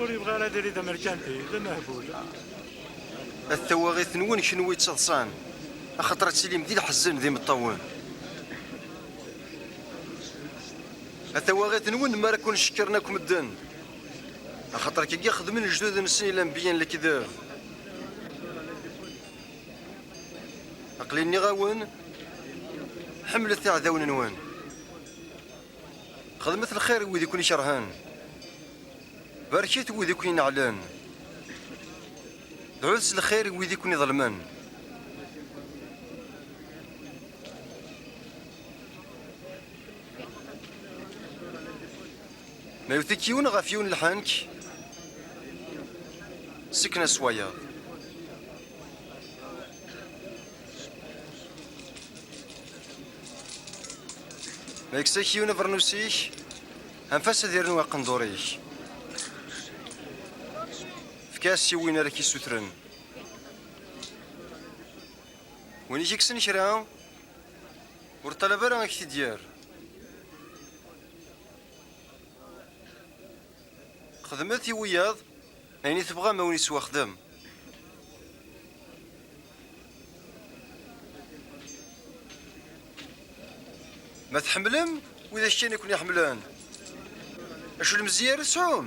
ur yebɣi ara ad irid amerkanti d amehbul at tawaɣit-nwen kenwi ttaḍsan axaṭer ad tilim di lḥezzen d imeṭṭawen at tawaɣit-nwen mi ara ken-cekkren akk medden axaṭer kagi xedmen lejdud-nsen ilanbiyen lekdeb Aqli nniɣ-awen ḥemmlet iɛdawen-nwen. Xedmet lxir i wid i ken-ikerhen. Barket wid i ken-ineɛlen. Dɛut s lxir i wid i ken-iḍelmen. Ma iwet-ik yiwen ɣef yiwen lḥenk, sken-as wayeḍ. Ma yekkes-ak yiwen abernus-ik, anef-as ad irnu aqendur-ik. Efk-as i win ara k-isutren. Win i k-ikksen kra, ur ṭṭalab ara ad k-t-id-yerr. Xedmet i wiyaḍ ayen i tebɣam awen iswaxdem. Ma tḥemmlem widak kan i ken-iḥemmlen. Acu n lemzeyya ara tesɛum?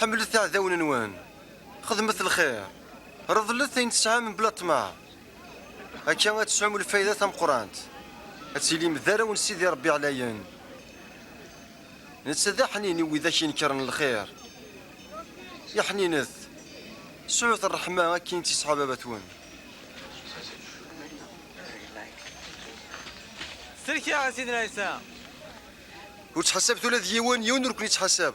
Ḥemmlet iɛdawen-nwen, xedmet lxir, reḍlet ayen tesɛam mebla ṭṭmeɛ. Akka ad tesɛum lfayda tameqqrant, ad tilim d arraw n Sidi Ṛebbi Ɛlayen. Netta d aḥnin i widak inekkren lxir. Iḥninet, sɛut ṛṛeḥma akken i tt-yesɛa baba-twen. Sellek-aɣ a Sidna Ɛisa! Ur ttḥasabet ula d yiwen, yiwen ur ken-ittḥasab.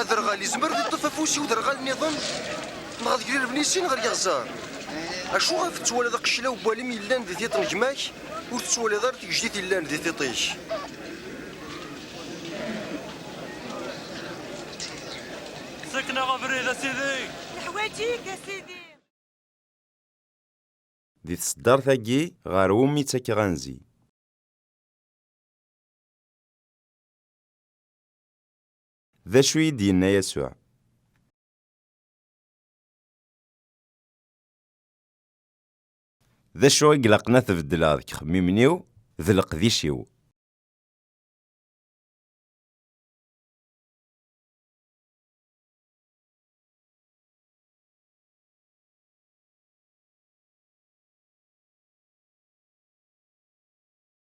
Aderɣal yezmer ad yeṭṭef afus i uderɣal niḍen neɣ deg lirevnisin ɣer yeɣẓar. Acu ɣef tettwaliḍ aqeclaw n walim yellan di tiṭ n gma-k ur tettwaliḍ ara tigejdit yellan di tiṭ-ik? Ssken-aɣ abrid a Sidi! Neḥwaǧ-ik a Sidi! Di tseddart-agi ɣer wumi ttakeɣ anzi. D acu i d-yenna Yasuɛ? D acu i ilaqen ad t-beddleɣ deg ixemmimen-iw d leqdic-iw?